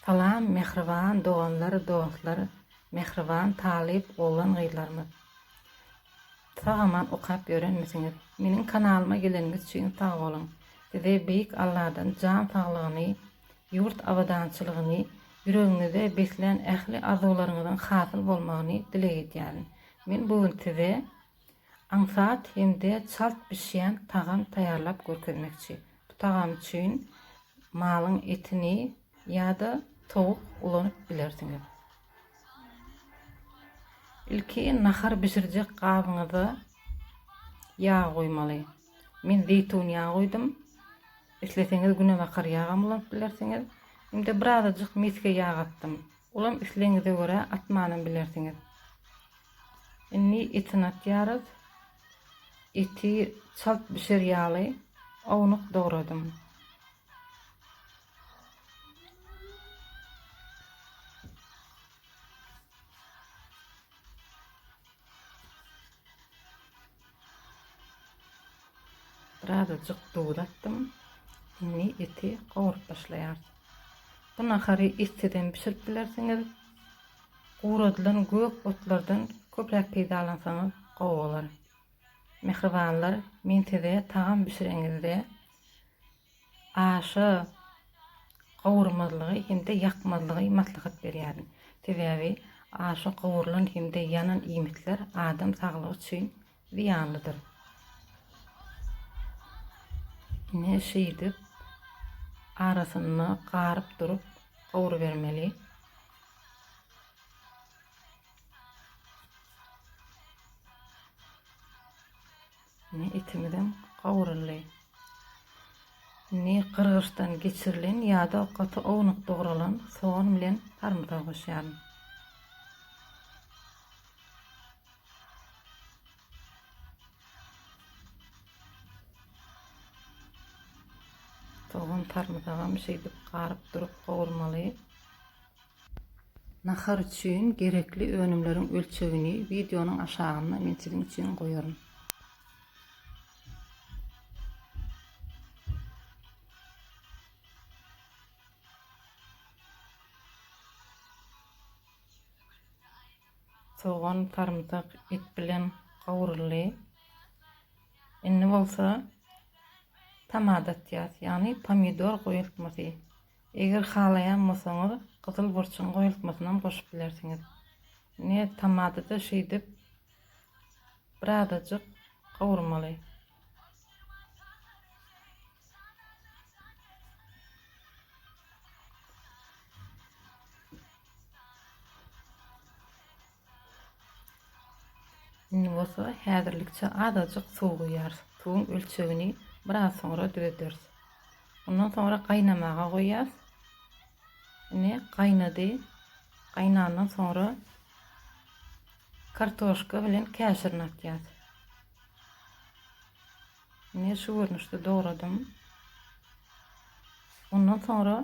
Salam mähriban doganlar dostlar mähriban talyp oglan gyzlarymyz sag aman okap ýörenmisiňiz meniň kanalyma geleniňiz üçin sag boluň size beýik Alladan jan saglygyny ýurt abadançylygyny ýüregiňizde beslän ähli arzuwlaryňyzyň hasyl bolmagyny dileg edýärin men bu gün size Aňsat hem-de çalt bişýän tagam taýýarlap görkezmekçi. Bu tagam üçin malyň etini ýa-da towuk ulanyp bilersiňiz. Ilki nahar bişirjek gabyňyza ýag goýmaly. Men zeýtun ýagy goýdum. Isleseňiz günebakar ýagam ulanyp bilersiňiz. Hem-de birazajyk mesge ýag atdym. Olam islegiňize görä atmanam bilersiňiz. Indi etini atýarys. Eti çalt bişer ýaly ownuk dogradym. Birazajyk duz atdym. Indi eti gowrup başlaýarys. Bu nahary etsizem bişirip bilersiňiz. Guradylan gök otlardan köpräk peýdalansaňyz gowy bolar. Mähribanlar, men size tagam bişireňizde aşa gowurmazlygy hem-de ýakmazlygy maslahat berýärin. Sebäbi aşa gowrulan hem-de ýanan iýmitler adam saglygy üçin zyýanlydyr. Ine şeýdip arasyna garyp durup gowrubermeli. Ine etimizem gowruldy. Indi gyrgyçdan geçirilen ýa-da gaty ownuk dogralan sogan bilen sarymsagy goşýaryn. Sogan sarymsagam şeýdip garyp durup gowurmaly. Nahar üçin gerekli önümleriň ölçegini wideonyň aşagynda men siziň üçin goýaryn. Sogan, sarymsak et bilen gawryldy. Indi bolsa tamada atýas, ýagny pomidor goýultmasy. Eger halaýan bolsaňyz, gyzyl burçuň goýultmasyny hem goşup bilersiňiz. Ine tamada-da şeýdip birazajyk gawurmaly. Indi bolsa häzirlikçe azajyk suw guýýarys. Suwuň ölçegini biraz soňra düzederis. Ondan soňra gaýnamaga goýýas. Indi gaýnady. Gaýnandan soňra kartoşka bilen käşirini atýas. Indi şu görnüşde dogradym. Ondan soňra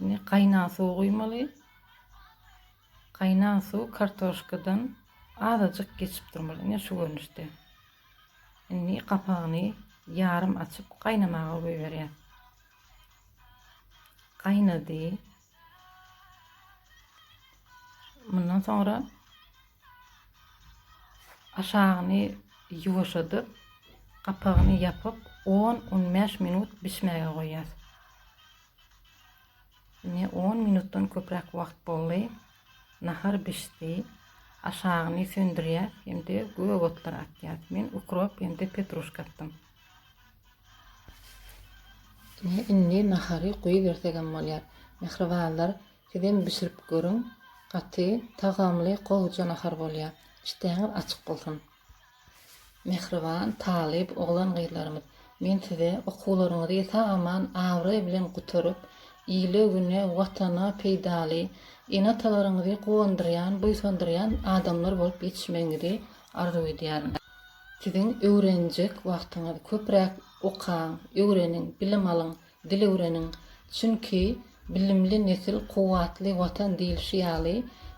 Indi gaýnan suw guýmaly. Gaýnan suw kartoşkadan azajyk geçip durmaly. Ine şu görnüşde. Indi gapagyny ýarym açyp gaýnamaga goýberýär. Gaýnady. Mundan soňra Aşagyny ýuwaşadyp, gapagyny ýapyp, on-on bäş minut bişmäge goýýas. Ine, on minutdan köpräk wagt boldy. Nahar bişdi. Aşagyny söndürýäs hem-de gök otlar atýas. Men ukrop hem-de petruşka atdym. Ine, indi nahary goýbersegem bolýar. Mähribanlar, Sizem bişirip görüň gaty tagamly gowja nahar bolýa işdäňiz açyk bolsun Mähriban talyp oglan gyzlarymyz men size okuwlaryňyzy sag aman abraý bilen gutaryp ile güne watana peýdaly ene atalaryňyzy guwandyrýan buýsandyrýan adamlar bolup ýetişmegiňizi arzuw edýärin siziň öwrenjek wagtyňyz köpräk okaň öwreniň bilim alyň Dil öwreniň, çünki Bilimli nesil, kuwwatly Watan diýlişi ýaly,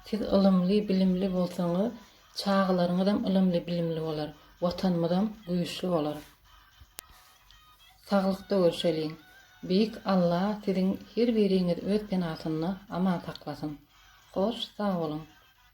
siz ylymly, bilimli bolsaňyz, çagalaryňyzam ylymly, bilimli bolar, Watanymyzam güýçli bolar. Saglykda görşeliň! Beýik Alla siziň her biriňizi öz penasynda aman saklasyn! Hoş, sag boluň!